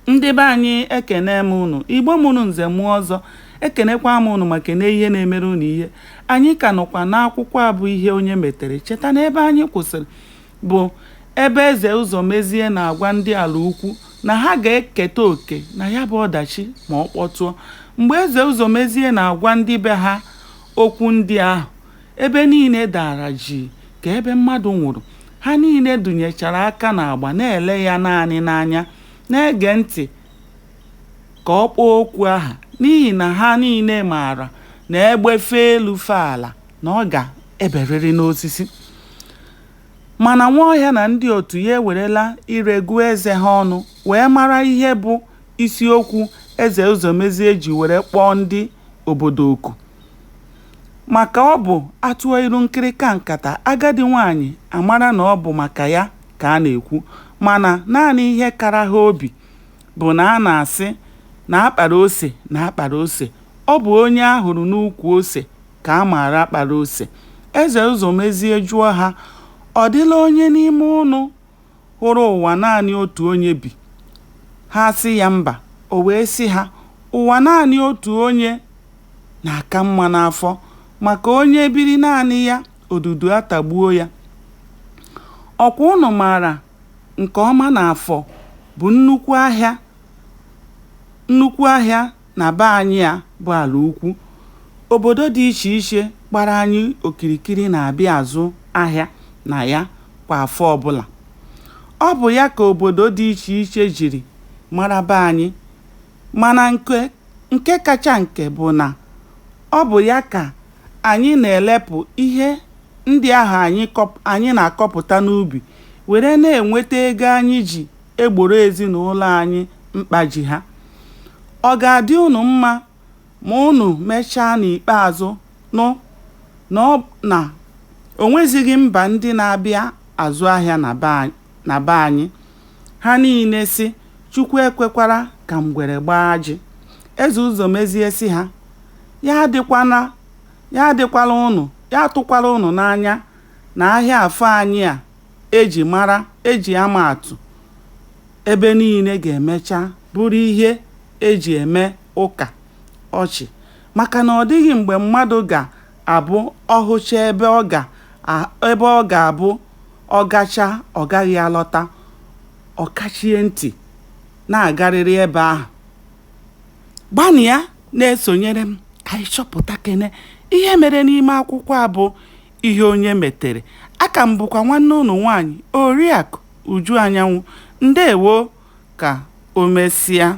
ndị be anyị ekene m unu igbo mụrụ nze mụọ ọzọ ekenekwa m unu ma kene ihe na-emere unu ihe anyị ka nọkwa n'akwụkwọ a bụ ihe onye metere cheta na ebe anyị kwụsịrị bụ ebe eze ụzọmezie na-agwa ndị ala ukwu na ha ga-eketa oke na ya bụ ọdachi ma ọ kpọtụọ mgbe eze ụzọmezie na-agwa ndị be ha okwu ndị ahụ Ebe niile dara jii ka ebe mmadụ nwụrụ. Ha niile dụnyechara aka n'agba na-ele ya naanị n'anya, na-ege ntị ka ọ kpọọ okwu aha, n'ihi na ha niile maara na egbe fee elu fee ala, na ọ ga-eberịrị n'osisi. Mana Nwaọhịa na ndị otu ya ewerela ire gụọ eze ha ọnụ wee mara ihe bụ isiokwu Eze Ụzọmezie ji were kpọọ ndị obodo oku. Maka ọ bụ a tụọ ilu nkịrịka nkata, agadi nwaanyị amara na ọ bụ maka ya ka a na-ekwu. Mana, naanị ihe kara ha obi bụ na a na-asị na a kpara ose na a kpara ose, ọ bụ onye a hụrụ n'ukwu ose ka a maara kpara ose. Eze Ụzọmezie jụọ ha, Ọ dịla onye n'ime unu hụrụ ụwa naanị otu onye bi? Ha asị ya mba, o wee sị ha, Ụwa naanị otu onye na-aka mma n'afọ, maka onye biri naanị ya, odudu atagbuo ya. Ọkwa unu maara nke ọma na afọ bụ nnukwu ahịa Na be anyị a bụ ala ukwu, obodo dị iche iche gbara anyị okirikiri na-abịa azụ ahịa na ya kwa afọ ọbụla. Ọ bụ ya ka obodo dị iche iche jiri mara be anyị mana nke nke kacha nke bụ na ọ bụ ya ka anyị na-elepụ ihe ndị ahụ anyị anyị na-akọpụta n'ubi were na-enweta ego anyị ji egboro ezinụlọ anyị mkpa ji ha. Ọ ga-adị unu mma ma unu mechaa n'ikpeazụ nụ na ọ na o nwezighị mba ndị na-abịa azụ ahịa na be anyị. Ha niile sị, Chukwu ekwekwara ka ngwere gbaa ajị. Eze Ụzọmezie sị ha, Ya adịkwana ya adịkwala unu ya atụkwala unu n'anya na ahịa afọ anyị a e ji mara e ji ama atụ ebe niile ga-emecha bụrụ ihe e ji eme ụka ọchị maka na ọ dịghị mgbe mmadụ ga-abụ ọ hụchaa ebe ọ ga-abụ ọ gachaa ọ gaghị alọta ọ kachie ntị na-agarịrị ebe ahụ gbanịa na-esonyere m ka anyị chọpụta kene ihe mere n'ime akwụkwọ a bụ ihe onye metere aka m bụkwa nwanne unu nwaanyị oriakụ Uju Anyanwụ ndewo ka o mesịa.